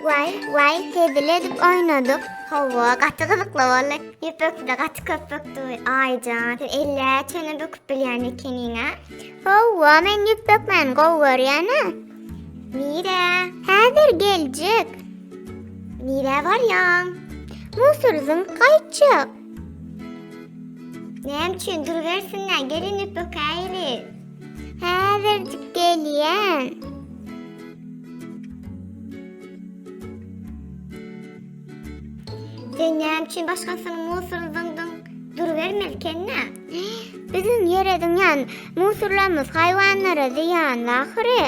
Vay vay tedil edip oynadyk. Hava gaty gyzykly boldy. Ýüpekde gaty köp bökdi. Aýjan, sen elle çene böküp bilýän ekeniň-a. Howwa, men ýüp bökmäni gowy görýän-ä. Nirä? Häzir geljek. Nirä barýaň? Musurzyň gaýtjak. Näme üçin durubersinler, gelin üp ökäýli. Häzirjik gelýän. Sen näme üçin başgasynyň musuryny zyňdyň? Durubermeli ekeni-dä. Biziň ýere zyňýan musurlarymyz haýwanlara zyýanly ahyry.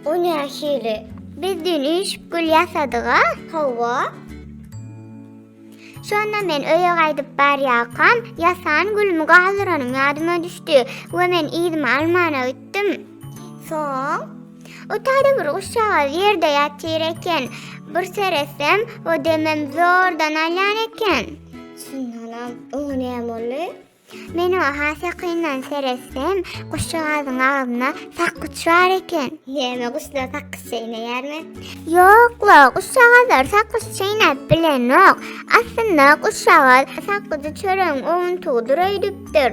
O nähili? Biz düýn üýşüp gül ýasadyg-a. Hawa. Şonda men öýe gaýdyp barýarkam, ýasan gülümi galdyranym ýadyma düşdi we men yzymy almana gitdim. Soň? O taýda bir guşjagaz ýerde ýatyr eken. Bir seretsem, o demem zordan alýan eken. Synlanam, oňa näme boldy? Men oňa has ýakyndan seretsem, guşjagazyň agzynda sakgyç bar eken. Näme, guşlar sakgyç çeýneýärmi? Ýok-la, guşjagazlar sakgyç çeýnäp bilenok. Aslynda, guşjagaz sakgyjy çöregiň owuntygydyr öýdüpdir.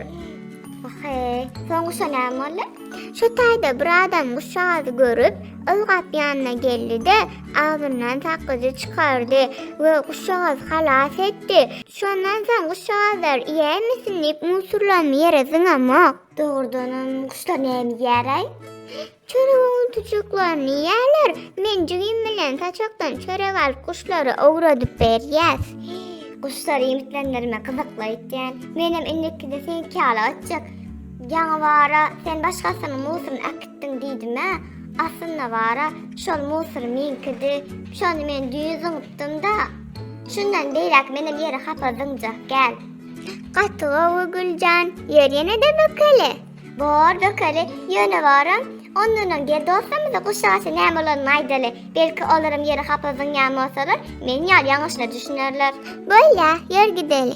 Wah-eý, soň guşa näme boldy? Şu taýda bir adam guşjagazy görüp, ylgap ýanyna geldi-de, agzyndan sakgyjy çykardy we guşjagazy halas etdi. Şondan soň guşjagazlar iýäýmesin diýip musurlamy ýere zyňamok. Dogrudanam guşlar näme iýäraý? Çörek owuntyjyklaryny iýýärler. Men jigim bilen saçakdan çörek alyp guşlara owradyp berýäs. Guşlary iýmitlendirmek gyzykly öýtýän. Menem indikide seňki ýaly öýtjek. Ýaňy bara sen başgasynyň musuryny äkitdiň diýdim-ä. Aslynda bara şol musur meňkidi. Şony men düýn zyňypdym-da. Şundan beýläk menem ýere hapa zyňjak gäl. Gaty gowy Güljan, ýör ýene-de bökeli. Bor bökeli, ýöne boram. Ondanam gel dostlarymyza guşagça näme bolanyny aýdaly. Belki olaram ýere hapa zyňýan bolsalar, meniň ýaly ýaňyşyna düşünerler. Bolýa, ýör gideli.